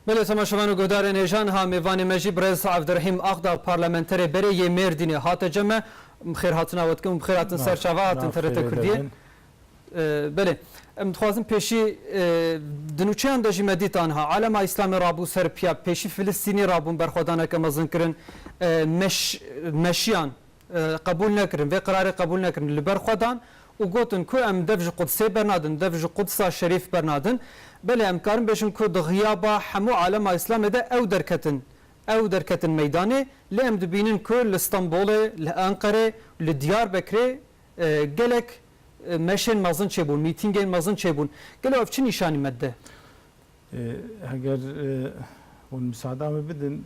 Belê temaşevan û guhdarên hêjan ha mêvanê me jî birêz Evdirehîm Axdag parlamenterê berê yê Mêrdînê hate cem me. Bi xêr hatina we dikim û bi xêr hatin ser çava hatin TRT Kurdiyê. Belê em dixwazin pêşî di nûçeyan de jî me dîtan ha Alema Îslamê rabû Serbya pêşî Filistînî rabûn berxwedaneke mezin kirin meş meşiyan qebûl nekirin, vê qirarê qebûl nekirin, li ber xwe dan û gotin ku em dev ji Qudsê bernadin, dev ji Qudsa şerîf bernadin. Belê em karin bêjin ku di xiyaba hemû alema Îslamê de ew derketin, ew derketin meydanê, lê em dibînin ku li Stenbolê, li Enqerê, li Diyarbekirê gelek meşên mezin çêbûn, mîtîngên mezin çêbûn. Gelo ev çi nîşanî me dide? Heger hûn misada min bidin,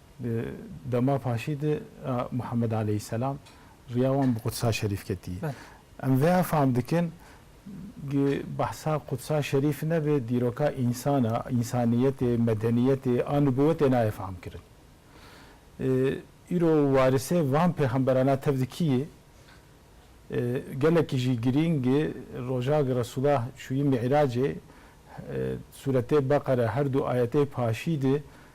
Di dema paşî de Muhammed aleyhîsselam riya wan bi Qudsa Şerîf ketî. Em vêya fam dikin gi behsa Qudsa Şerîf nebe dîroka însan e, însaniyetê, medeniyetê a nubûwetê nayê famkirin. Îro warisê van pêxemberan a tevdi kî yê? Gelekî jî girîng e roja gi Resûla çûyî Mî'racê, Sûretê Beqere herdu ayetê paşî de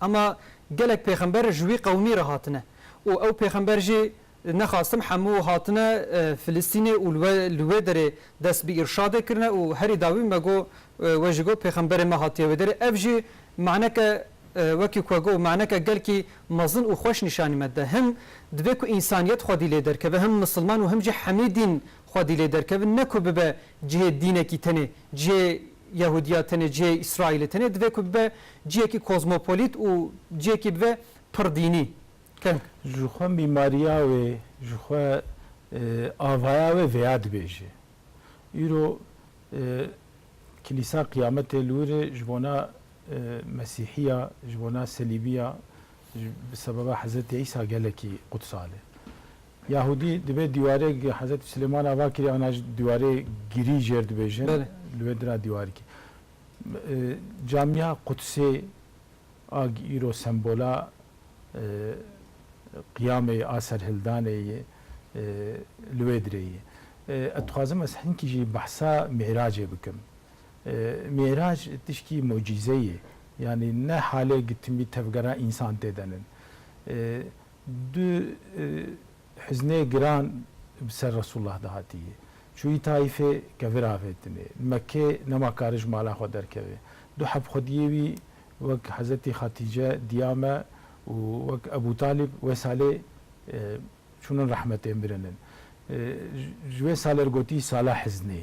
Ama gelek pêxember ji wî qewimî re hatine û ew pêxember jî nexastim hemû hatine Filistînê û li wê derê dest bi îrşadê kirine û herî dawî me got we jî got pêxemberê me hatiye wê derê ev jî maneke wekî ku got maneke gelkî mezin û xweş nîşanî me dide him divê ku însaniyet xwedî lê derkeve him misilman û him jî hemî dîn xwedî lê derkevin ne ku bibe cihê dînekî tenê cihê Yehudiya tenê cihê Îsraîlê tenê divê ku bibe cihekî kozmopolît û cihekî bibe pir dînî. Keng. Ji xwe mîmariya wê, ji xwe avaya wê vêya dibêje. Îro Kilîsa Qiyametê li wir e ji bona Mesîhiya, ji bona Selîmiya, bi sebeba Hezretî Îsa gelekî qudsal e. Yahûdî divê dîwarê gi Hezretî Silêman ava kirî ana ji dîwarê girî jêr dibêjin li wê dira dîwarikî camîya Qudsê a gi îro sembola qiyamê yê a serhildanê yê li wê dirê yê. Ez dixwazim ez hinkî jî behsa Mî'racê bikim. Mî'rac tişkî mucîze yê. Yanî ne halê gi timî tevgera însan tê denin. Du hiznê giran bi ser Resûlullah de hatiye. Çûyî Taîfê ke viravêtinê. Li Mekkê nema kari ji mala xwe derkeve. Du heb xwediyê wî wek Hezetî Xatîce diya me û wek Ebû Talîb wê salê çûnin rehmetê mirin in. Ji wê salê re gotî sala hiznê.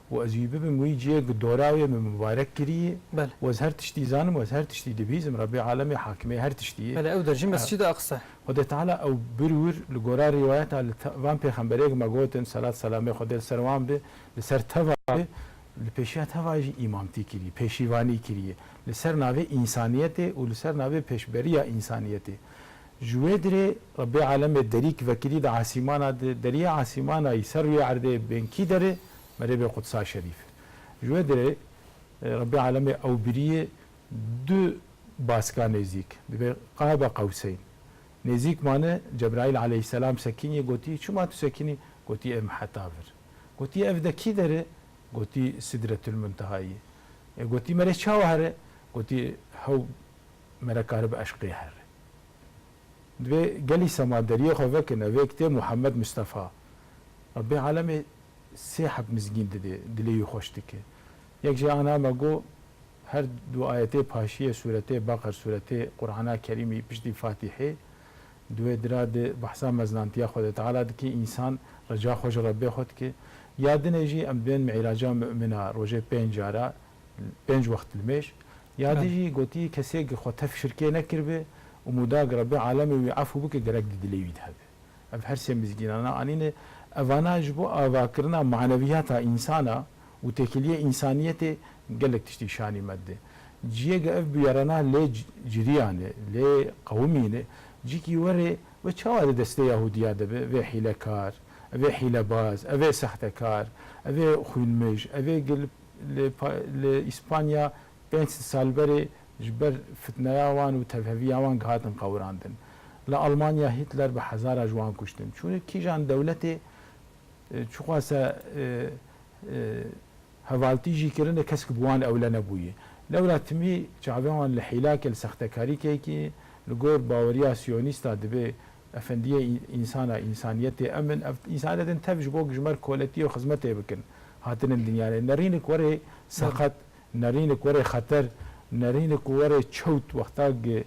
û ez wî bibim wî ciyê ku dora wê min mibarek kirîyê û ez her tiştî zanim û ez her tiştî dibîzim Rebbê Alemê Hakimê her tiştî yê. Belê ew der jî mescîda Aqsa. Xwedê Teala ew birwir li gora rîwayeta li van pêxemberê ku me gotin selat selamê Xwedê li ser wan be li ser teva be li pêşiya teva jî îmamtî kirî pêşîvanî kirîyê li ser navê însaniyetê û li ser navê pêşberîya însaniyetê Ji wê dirê Rebê alemê derî ki vekirî di asîmana di deriyê asîmana yî ser rûyê erdê bên kî der e? Merêbê Qudsa Şerîf e. Ji wê dirê Rebê alemê ewbiriyê du baska nêzîk divê Qaba Qewseyn nêzîk mane Cebraîl aleyhîsselam sekinî gotî çima tu sekinî? Gotî êm heta vir. Gotî ev de kî der e? Gotî Sidretulmûntehayî ye. Ê gotî mere çawa here? Gotî hew mere karibe eşqê here. Divê gelî sema deriyê xwe vekine vê kitê Muhammed Mustafa ma bê alemê sê heb mizgîn didê dilê wî xweş dike. Yek jê ana me go her du ayetê paşiyê sûretê Beqer sûretê Qurana Kerîmî piştî Fatîhê di wê dira de behsa meznantiya Xwedê Teala dike însan reca xwe ji Rebbê xwe dike. Ya dinê jî em di wên Mi'raca Mu'mina rojê pênc cara pênc wext li mêj. Ya dî jî gotî kesêk xwe tev şirkê nekiribe û mûdag Rebî alemê wî efû bike gerek di dilê wî de hebe. Ev her sê mizgînana anîne. Evana ji bo avakirina maneviyata însana û têkiliyê însaniyetê gelek tiştî şanî me dide. Ciyege ev bûyerana lê ciriyane, lê qewimîne. Cikî werê ve çawa di destê Yahudiya de be? Vê hîlekar, evê hîlebaz, evê sextekar, evê xwînmij, evê gil Li Îspanya pênc sal berê ji ber fitneya wan û tevheviya wan gihatin qewirandin. Li Almanya Hitler bi hezara ji wan kuştin. Çûnê kîjan dewletê çixwase hevaltî jî kirine kesk bi wan ewle nebûye. Lewra timî çavên wan li hîlakê, li sextekarîkeyekî li gor baweriya siyonîsta dibê Efendiyê însana însaniyetê em in. Ev însaniyet in tev ji bo ku ji mer koletiyê û xizmetê bikin hatinin dinyayê. Nerînik were seqet, nerînik were xeter, nerînik were çewt wexta ku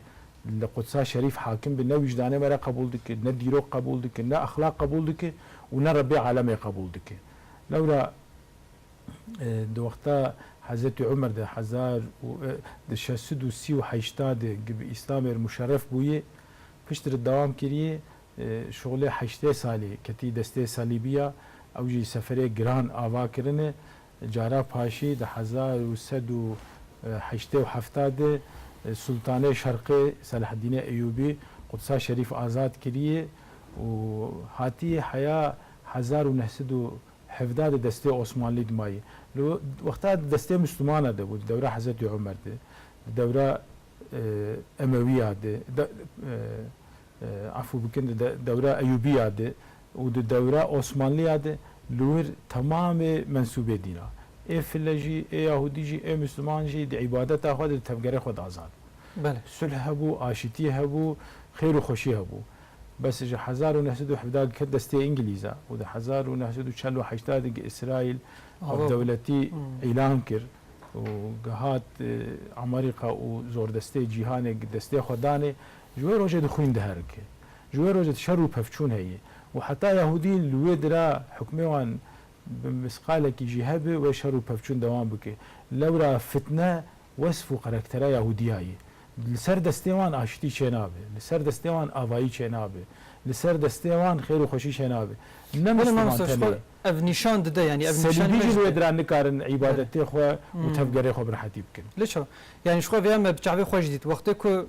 li Qudsa şerîf hakim be ne wîjdanê me re qebûl dike, ne dîrok qebûl dike, ne exlaq qebûl dike û ne Rebê alemê qebûl dike. Lewra di wexta Hezretî Umer de hezar û şeş sed û sî û heşta de ku bi Îslamê re muşerref bûye, Piştre dewam kiriye şolê heştê salê ketî destê Salîbiya ew jî seferê giran ava kirine. Cara paşî di hezar û sed û heştê û hefta de Sultanê Şerqê Selaheddînê Eyûbî Qudsa Şerîf azad kiriye û hatiye heya hezar û neh sed û hevda de destê Osmanlî dimaye. Li wexta di destê Muslimana de bû di dewra Hezretî Omer de di dewra Emewiya di afû bikin di dewra Eyûbiya di û di dewra Osmanliya di li wir temamê mensûbê dîn a. Ê file jî, ê yahûdî jî, ê misliman jî di îbadeta xwe di di tevgerê xwe di azad bû. Sulh hebû, aşîtî hebû, xêr û xweşî hebû. Bes ji hezar û neh sed û hevdeh di ket destê Îngilîza û di hezar û neh sed û çel û heştê di gi Îsraîl wek dewletî îlan kir. û gihat Amerîka û zordestê cîhanê destê xwe danê, ji wê rojê di xwîn diherike. Ji wê rojê di şer û pevçûn heye û heta Yahûdî li wê dira hukmê wan bi misqalekî jî hebe wê şer û pevçûn dewam bike. Lewra fitne wesf û karektera Yahûdiya ye. Li ser destê wan aştî çênabe, li ser destê wan avayî çênabe, li ser destê wan xêr û xweşî çênabe. Ne Belê misliman mamoste ji xwe tenê. Ev nîşan dide yanî ev nîşan Selîbî jî li wê dira nikarin îbadetê xwe û tevgerê xwe bi rehetî bikin. Li çav yanî ji xwe vêya me bi çavê xwe jî dît wextê ku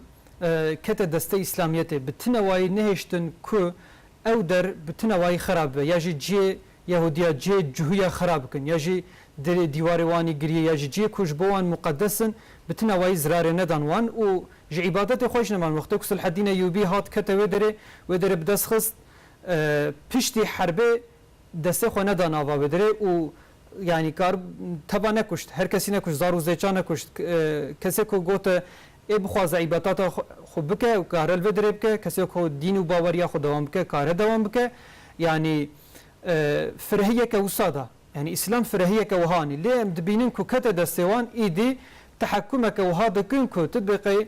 kete destê îslamiyetê bi tinewayî nehêştin ku ew der bi tinewayî xera bibe ya jî cihê Yehudiya cihê cuhuya xera bikin ya jî derê dîwarê wan î giriyê ya jî cihê ku ji bo wan muqedes in bi tinewayî zirarê nedan wan û ji îbadetê xwe jî neman wextê ku Silhedîn Eyûbî hat kete wê derê wê derê bi dest xist Piştî herbê destê xwe neda nava Bedirê û yanî kar teba nekuşt, her kesî nekuşt, zar û zêça nekuşt. Kesê ku got ê bixwaze îbetata xwe bike û kare li Bedirê bike, kesê ku dîn û baweriya xwe dewam bike, kare dewam bike. Yanî firehiyeke wisa da. Yanî îslam firehiyeke wiha anî. Lê em dibînin ku kete destê wan, îdî tehekûmeke wiha dikin ku tu biqey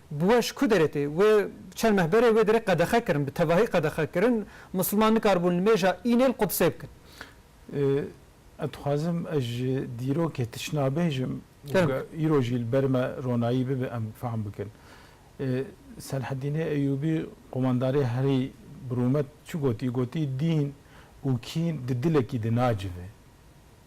Bi we ji ku derê tê? Wê çend meh berê wê derê qedexe kirin, bi tevahî qedexe kirin. Misilman nikaribûn li mêja Înê li Qudisê bikin. Ez dixwazim ez ji dîrokê tişna bêjim û ge îro jî li ber me ronayî bibe em fehm bikin. Selahedînê Eyûbî qomandarê herî bi rûmet çi gotî? Gotî dîn û kîn di dilekî de nacive.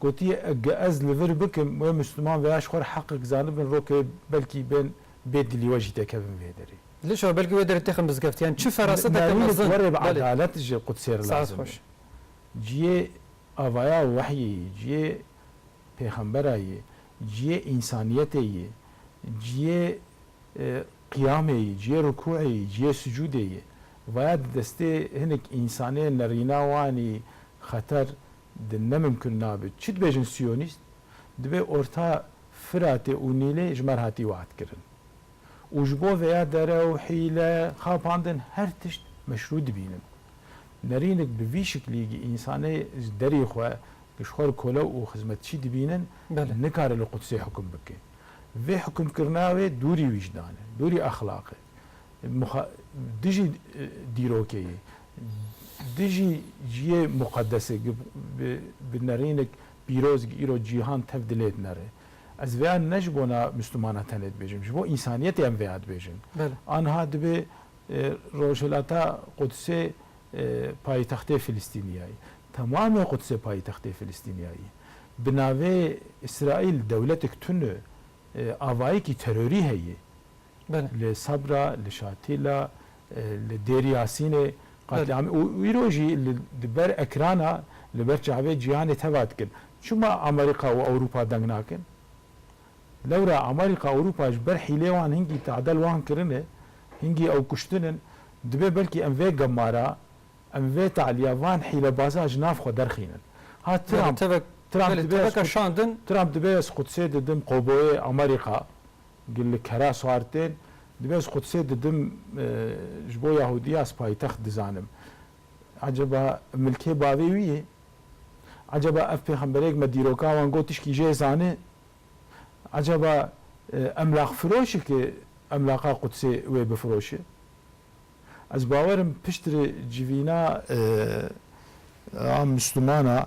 Gotiye ege ez li vir bikim wê Mûsliman vêya ji xwe re heqek zanibin rokê belkî bên bê dilî we jî tekevin vê derê. Dilêşa we belkî wê derê têxin bizgeftiyan çi feraseteke mezin. Navînê werê bi edalet ji Qudsê re lazim e. Ciyê avaya wehyê yê, ciyê pêxembera yê, ciyê însaniyetê yê, ciyê qiyamê yê, ciyê rukûê yê, ciyê sucûdê yê. Vaya di destê hinek însanê nerîna wanî xeter Di ne mimkun nabe. Çi dibêjin siyonîst? Dibe orta Firatê û Nîlê ji me re hatî wehtkirin. Û ji bo veya derew, hîle, xapandin her tişt meşrû dibînin. Nerînik bi vî şiklî gi însanê ji derî xwe ji xwe re kolew û xizmetçî dibînin nikare li Qudsê hukm bike. Vê hukmkirina wê dûrî wîjdan e, dûrî exlaq e. dijî dîrokê yê, dijî ciyê muqedesê bi nerînik pîroz gi îro cîhan tev dilê dinere. Ez vêya ne ji bona Mislûmanan tenê dibêjim, ji bo însaniyetê em vêya dibêjin. Aniha dibê Rojhilata Qudsê payîtextê Filistîniya yî. Temamê Qudsê payîtextê Filistîniya yî. Bi navê Îsraîl dewletik tune avayekî terorî heye. li Sabra, li Şatîla, li Dêr Yasînê qetlîamê û îro jî li ber ekrana li ber çavê cîhanê teva dikin. Çima Amerîka û Ewropa deng nakin? Lewra Amerîka Ewropa ji ber hîlê wan hingî tadel wan kirine, hingî ew kuştin in. Dibe belkî em vê gemara, em vê talîya van hîlebazan ji nav xwe derxînin. Ha Trump, Trump dibe ez Qudsê didim, Qoboyê Amerîka, Gil li keras xwar tên. Divê ez Qudsê didim ji bo Yahudiya ez paytext dizanim. Eceba milkê bavê wî yê? Eceba ev pêxemberêk me dîroka wan got tişkî jê zanê? Eceba emlaqfiroşik e emlaqa Qudsê wê bifiroşê? Ez bawer im piştre civîna a Mislumana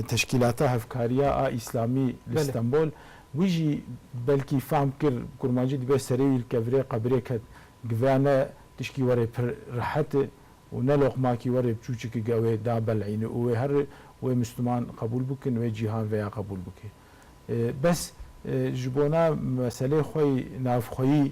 Teşkîlata Hevkariya a Îslamî li Stenbol wî jî belkî fehm kir kurmancî dibe serê wî li kevirê qebirê ket giveya ne tişkî were pir rehet e û ne loqmakî were çûçiki gewê da belîne û wê her wê Misluman qebûl bikin wê cîhan veya qebûl bike bes ji bona meselê xwe yî navxweyî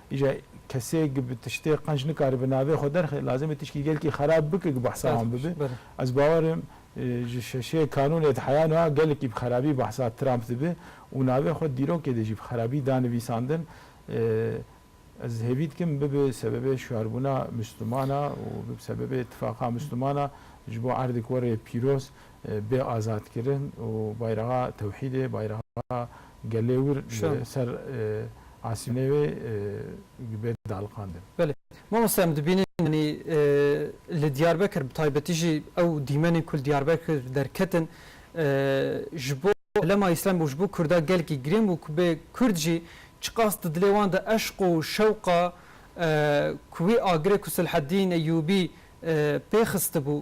Îja kesêk bi tiştê qenc nikaribe navê xwe derxe, lazim e tiştî gelkî xerab bike ku behsa wan bibe. Ez bawer im ji şeşê kanûnê di heya niha gelekî bi xerabî behsa Trump dibe û navê xwe dîrokê de jî bi xerabî da nivîsandin. Ez hêvî dikim bibe sebebê şiyarbûna Misliman a û bibe sebebê îtifaqa Misliman a ji bo erdek were pîroz bê azad kirin û bayraxa tewhîdê, bayraxa gelê wir li ser asînê wê bê daliqandin. Belê. Mamoste em dibînin yanî li Diyarbekir bi taybetî jî ew dîmenên ku li Diyarbekir derketin ji bo Hilema Îslamê û ji bo Kurda gelekî girîng bû ku bê Kurd jî çiqas di dilê wan de eşq û şewqa ku wî agirê ku Selahedîn Eyûbî pê xistibû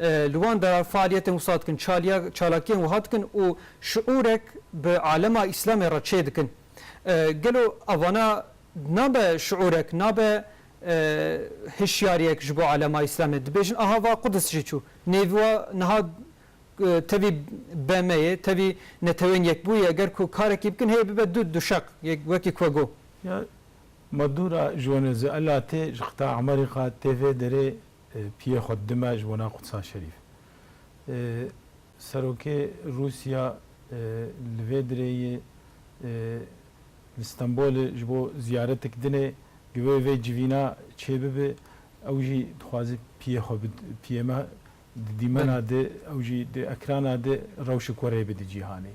Li wan de faaliyetên wisa dikin, çaliya çalakiyên wiha dikin û şiûrek bi alema Îslamê re çê dikin. Gelo evana nabe şiûrek, nabe hişyariyek ji bo alema Îslamê? Dibêjin aha va Qudis jî çû. Nêvî wa niha tevî BM'yê, tevî Neteweyên Yekbûyî ye. Ger ku karekî bikin hê bibe du duşeq, wekî ku we got. Ya Madura ji we ne zêde. Ela tê ji qita Emerîka tê vê derê piyê xwe dime ji bona Qudsa Şerîf. Serokê Rûsya li vê dirêyê li Stenbolê ji bo ziyaretik dinê, divê vê civîna çêbibe, ew jî dixwaze piyê xwe piyê me di dîmena di, ew jî di ekrana di rewşik we rê bide cîhanê.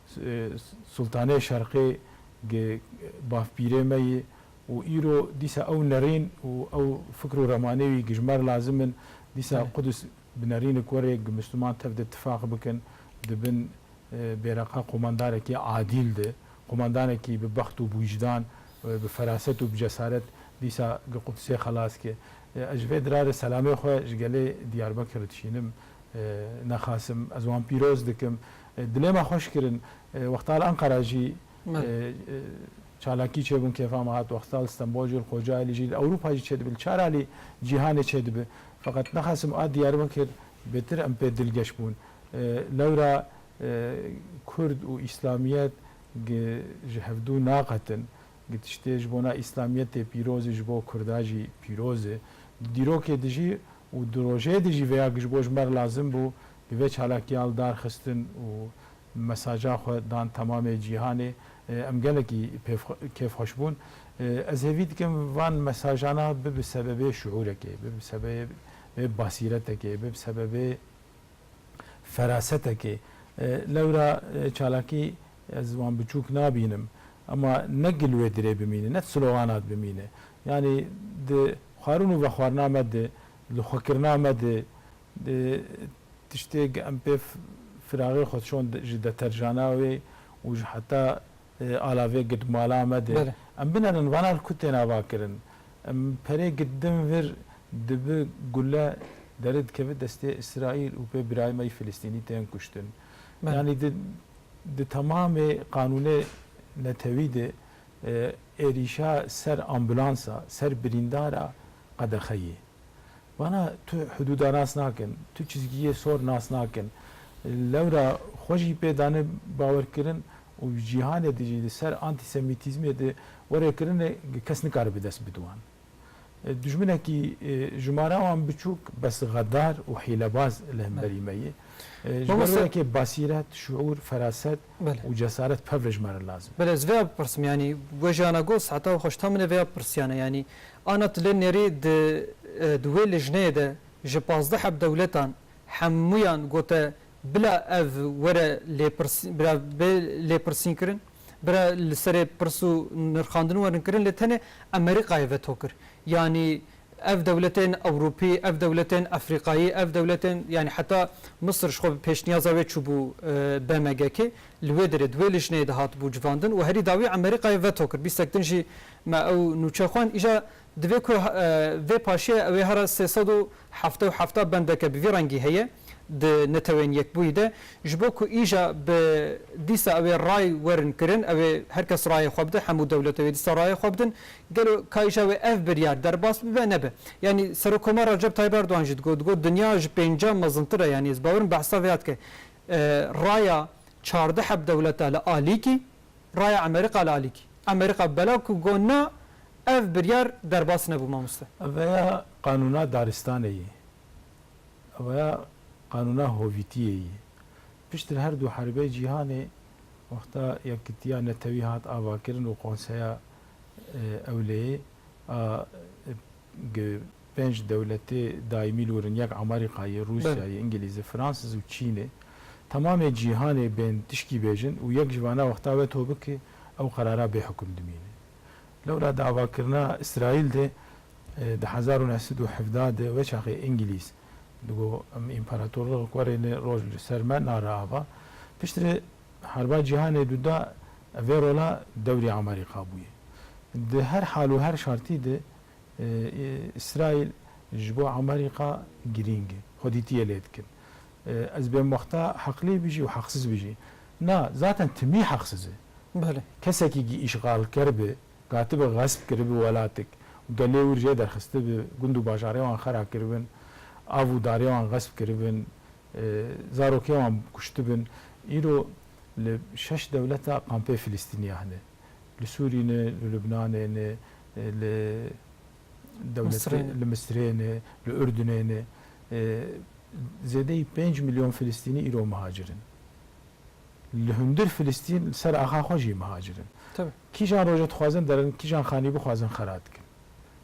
Sultanê Şerqê gi bavpîrê me yî û îro dîsa ew nerîn û ew fikr û remanê wî gi ji me re lazim in. Dîsa Qudus bi nerînik were gi Misliman tev de tifaq bikin di bin bêreqa qomandarekî adîl de, qomandanekî bi bext û bi wîjdan, bi feraset û bi cesaret dîsa gi Qudusê xelas ke. Ez ji vê dira re selamê xwe ji gelê Diyarbekir dişînim. Nexasim ez wan pîroz dikim. Dilê me xweş kirin. Wexta li Enqera jî çalakî çêbûn kêfa me hat. Wexta li Stenbol jî li Kocaelî jî li Ewropa jî çêdibe. Li çar alî cîhanê çêdibe. Feqet nexwesim a Diyarbekir bêtir em pê dilgeş bûn. Lewra Kurd û Îslamiyet gi ji hevdu naqetin. Gi tiştê ji bona Îslamiyetê pîroz e ji bo Kurda jî pîroz e. Di dîrokê dijî Û di rojê de jî vêya ji bo ji me re lazim bû bi vê çalakiya li dar xistin û mesaja xwe dan temamê cîhanê. Em gelekî kêfxweş bûn. Ez hêvî dikim van mesajana bi bi sebebê şuurekê, bi bi sebebê basîretekê, bi bi sebebê ferasetekê. Lewra çalakî Ez wan biçûk nabînim. Ema ne gil wê dirê bimîne, ne slogana bimîne. Yanî di xwarin û vexwarina me de, li xwekirina me de, di tiştê ge em pê firaxê xwe şon ji deterjana wê û ji heta ala vê girt mala me de, em binerin vana li ku têne avakirin. Em perê girt din vir dibi gule deri dikeve destê Îsraîl û pê birayê me yê Filistînî tên kuştin. Yanî di temamê qanûnê netewî de êrîşa ser ambulansa, ser birîndara qedexe ye. Vana tu hidûda nas nakin, tu çizgiyê sor nas nakin. Lewra xwe jî pê dane bawerkirin û cîhanê de jî li ser antîsemîtîzmê de were kirine kes nikare bi dest bide wan. Dijminekî jimara wan biçûk bes xedar û hîlebaz li hemberî me ye. Ji ber wê yekê basîret, şiûr, feraset û cesaret pevre ji me re lazim e. Belê ez vê ya bipirsim yanî we jiyana got saeta wi xweş ta min ê vê ya bipirsiyane yanî ana tu lê nêrî di di wê lijneyê de ji pazdeh heb dewletan hemûyan gote bila ev were lêpirsîn bila bê lêpirsînkirin? Bira li serê pirs û nirxandin werin kirin lê tenê Emerîkayê veto kir. Yanî ev dewletên Ewropî, ev dewletên Efrîkayî, ev dewletên yanî heta Misir ji xwe bi pêşniyaza wê çûbû BMGkê li wê derê di wê lijneyê de hatibû civandin û herî dawî Emerîkayê veto kir. Bîstek din jî me ew nûçe xwend. Îja Divê ku vê paşiya ew ê herra sê sed û hevdeh û hevdeh bendeke bi vî rengî heye di Netewên Yekbûyî de, ji bo ku îja bi dîsa ew ê ray werin kirin, ew ê her kes rayê xwe bide, hemû dewlet ew ê dîsa rayê xwe bidin, gelo ka îja wê ev biryar derbas bibe, nebe? Yanî Serokkomar Recep Tayyîp Erdogan jî digot, digot dinya ji pêncî mezintir e, yanî ez bawer im behsa vê ya dike. Raya çardeh hevdewleta li alîkî. raya Emerîqa li alîkî. Emerîqa belav ku got na, ev biryar derbas nebû mamoste. Eveya qanûna daristanê yê. Eveya qanûna hovîtiyê yê. Piştre her du herbey cîhanê wexta Yekitiya Netewî hat avakirin û Konseya Ewleyê a G pênc dewletê daîmî li wir in, yek Amarîkayê, Rûsyayê, Ingilîzê, Fransîz û Çînê. Temamê cîhanê bên tişkî bêjin û yek ji vana wexta we to bike ew qerara bê hukum dimîne. Lewra di avakirina Îsraîl de di hezar û neh sed û hevdeh de weçaxê Ingilîz digot em împaratorlixek werêne roj li ser me nare ava. Piştre Harba Cîhanê Du de vê rola dewrî Amerîka bûye. Di her hal û her şartî de Îsraîl ji bo Amerîka girîng e. Xwedîtiyê lê dikin. Ez bêmwexta heqlî bijî û heqsiz bijî. Na, zaten timî heqsiz e. Kesekî gi îşxalker bi, gatibi xesp kiribi welatik û gelê wir jê derxistibi, gund û bajarê wan xera kiribin, av û darê wan xesp kiribin, Zarokê wan kuştibin. Îro li şeş dewleta kampê Filistîniya hene. Li Sûrî ne, li Lubnanê ne, li dewletê li Misirê ne, li Urdunê ne. Zêdeyî pênc milyon Filistînî îro mihacir in. Li hundir Filistîn li ser axa xwe jî mihacir in. Kîjan roja dixwazin derin, kîjan xanî bixwazin xera dikin.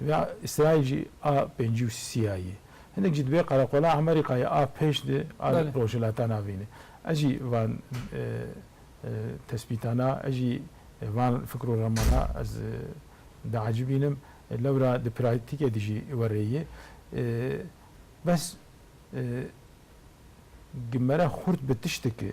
Divê Îsraîl jî a pêncî û sî ya yê. Hinek jî divê qereqola Amerîkayê a pêş di a rojhilata navîn e. Ez jî van tespîtana, ez jî van fikr û remana ez diacibîn im. Lewra di pratîkê de jî werê yê. Bes gimere xurt bi tiştiki.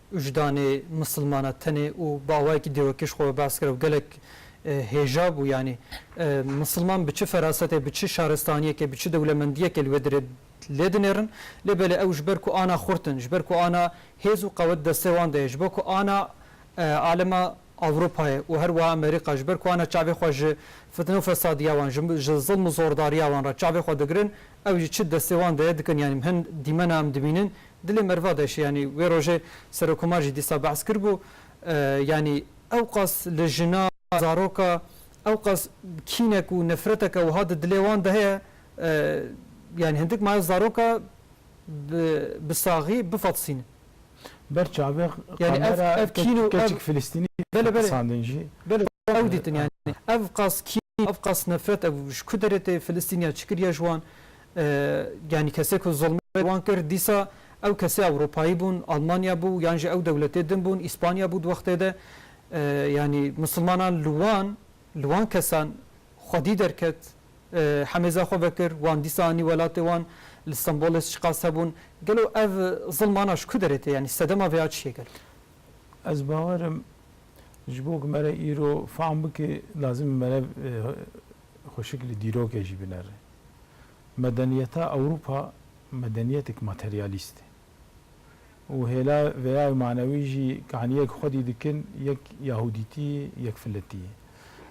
Wijdanê misilmana tenê û bawayekî dêwekî ji xwe ve behs kir ew gelek hêja bû yanî misilman bi çi ferasetê bi çi şaristaniyekê bi çi dewlemendiyekê li wê dirê lê dinêrin lê belê ew ji ber ku ana xurtin ji ber ku ana hêz û qewet destê wan de ye ji bo ku ana alema Ewropayê û her wiha Amerîka ji ber ku ana çavê xwe ji fitne û fesadiya wan ji ji zilm û zordariya wan re çavê xwe digirin ew jî çi destê wan de ye dikin yanî hin dîmena em dibînin Dilê merva deşî yanî wê rojê Serokomar jî dîsa behs kiribû yanî ewqas li jina, zaroka ewqas kînek û nefreteke wiha di dilê wan de heye yanî hindik maye zaroka bi bi saxî bifetisînin. Ber çavê kamera keçik filistînî qisandin jî ew dîtin yanî ewqas kîn ewqas nefret ew ji ku derê tê filistîniya çi kiriye ji wan Yanî kesê ku zilmê li wan kir dîsa ew kesê Ewropayî bûn, Almanya bû yan jî ew dewletê din bûn, Îspanya bû di wextê de. Yanî misilmanan li wan, li wan kesan xwedî derket, hemêza xwe vekir, wan dîsa anî welatê wan, li Stenbolê çiqas hebûn. Gelo ev zilmana ji ku derê tê? Yanî sedema vêya çi ye gelo? Ez bawer im ji bo ku me re îro fam bike lazim e me re Xweşik li dîrokê jî binere. Medeniyeta Ewropa medeniyetêk materyalîst e û hêla veyayê manewî jî kaniyek xwedî dikin yek yahûdîtî yek filetî ye.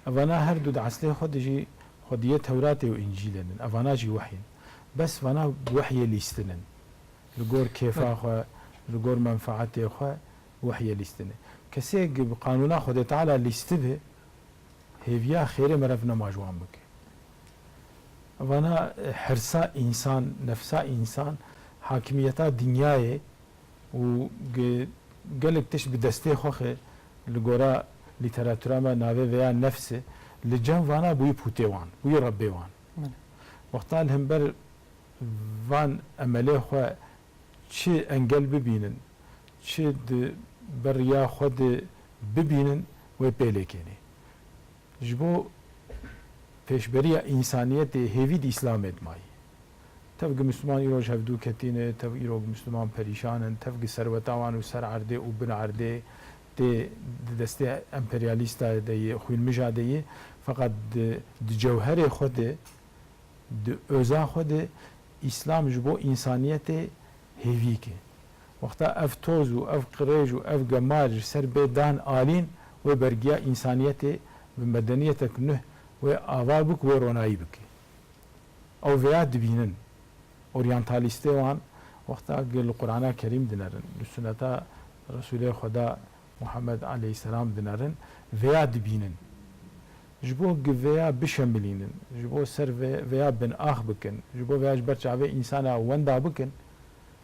Evana her du di eslê xwe de jî xwediyê Tewratê û Încîlê din. Evana jî wehy in. Bes vana bi wehyê lîstin in. Li gor kêfa xwe, li gor menfaetê xwe bi wehyê lîstin in. Kesêk bi qanûna Xwedê Teala lîstibe hêviya xêrê merevnema ji wan bike. Vana hirsa însan, nefsa însan, hakimiyeta dinyayê û gelek tişt bi destê xwe xê li gora lîteratura me navê veya nefs e, li cem vana bûyî pûtê wan, bûyî rebbê wan. Wexta li hember van emelê xwe çi engel bibînin, çi di ber riya xwe de bibînin wê pêlêkênê. Ji bo pêşberiya însaniyetê hêvî di Îslamê di mayî. Tev gi Misliman îroj hevdû ketî ne, tev îro gi Misliman perîşan in, tev gi serweta wan û ser erdê û bin erdê tê di destê emperyalîsta de yê xwînmija de yê feqet di di cewherê xwe de di oza xwe de Îslam ji bo însaniyetê hêvîk e. Wexta ev toz û ev qirêj û ev gemar ji ser bê dan alîn, wê bergiya însaniyetê bi medeniyetek nuh wê ava bû ku wê ronayî bike. Ew vêya dibînin. Oryantalîstê wan wexta ku li Qurana Kerîm dinerin, li suneta Resûlê Xweda Muhammed aleyhîsselam dinerin, vêya dibînin. Ji bo ku vêya bişemilînin, ji bo ser vê vêya binax bikin, ji bo vêya ji ber çavê însana wenda bikin,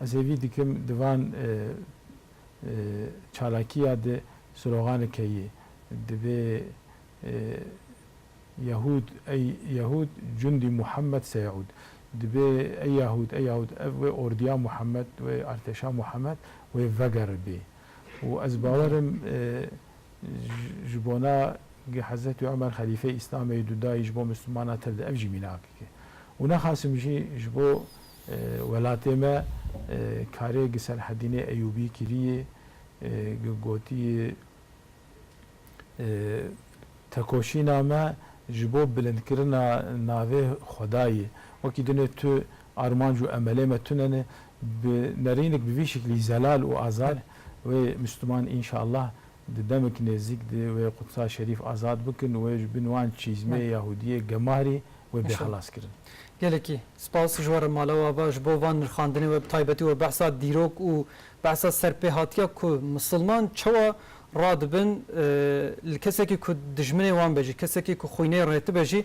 Ez hêvî dikim di van çalakiya de siroxane keyê. Divê Yahûd ey Yahûd cundî Muhammed seyaûd. Divê ey Yahûd ey Yahûd ev wê ordiya Muhammed wê artêşa Muhammed wê vegeribê. Û ez bawer im ji bona ge Hezretî Umer xelîfeyê Îslamê yê du dayî ji bo Mislimanan tir de ev jî mînakek e. Û nexasim jî ji bo Welatê me karê gi Selhedînê Eyûbî kirîyê, gi gotîyê Tekoşîna me ji bo bilindkirina navê Xwedayê, wekî dinê tu armanc û emelê me tune ne, bi nerînik bi vî şiklî zelal û azad wê Mistûman înşallah Di demik nêzîk di wê Qudsa Şerîf azad bikin, wê ji bin wan çîzmê Yahûdiyê gemarî, wê bê xelas kirin. Gelekî spas ji we re Mala Wava ji bo van nirxandinê we bi taybetî we behsa dîrok û behsa serpêhatiya ku misilman çawa radibin li kesekî ku dijminê wan be jî kesekî ku xwînê rêtibe jî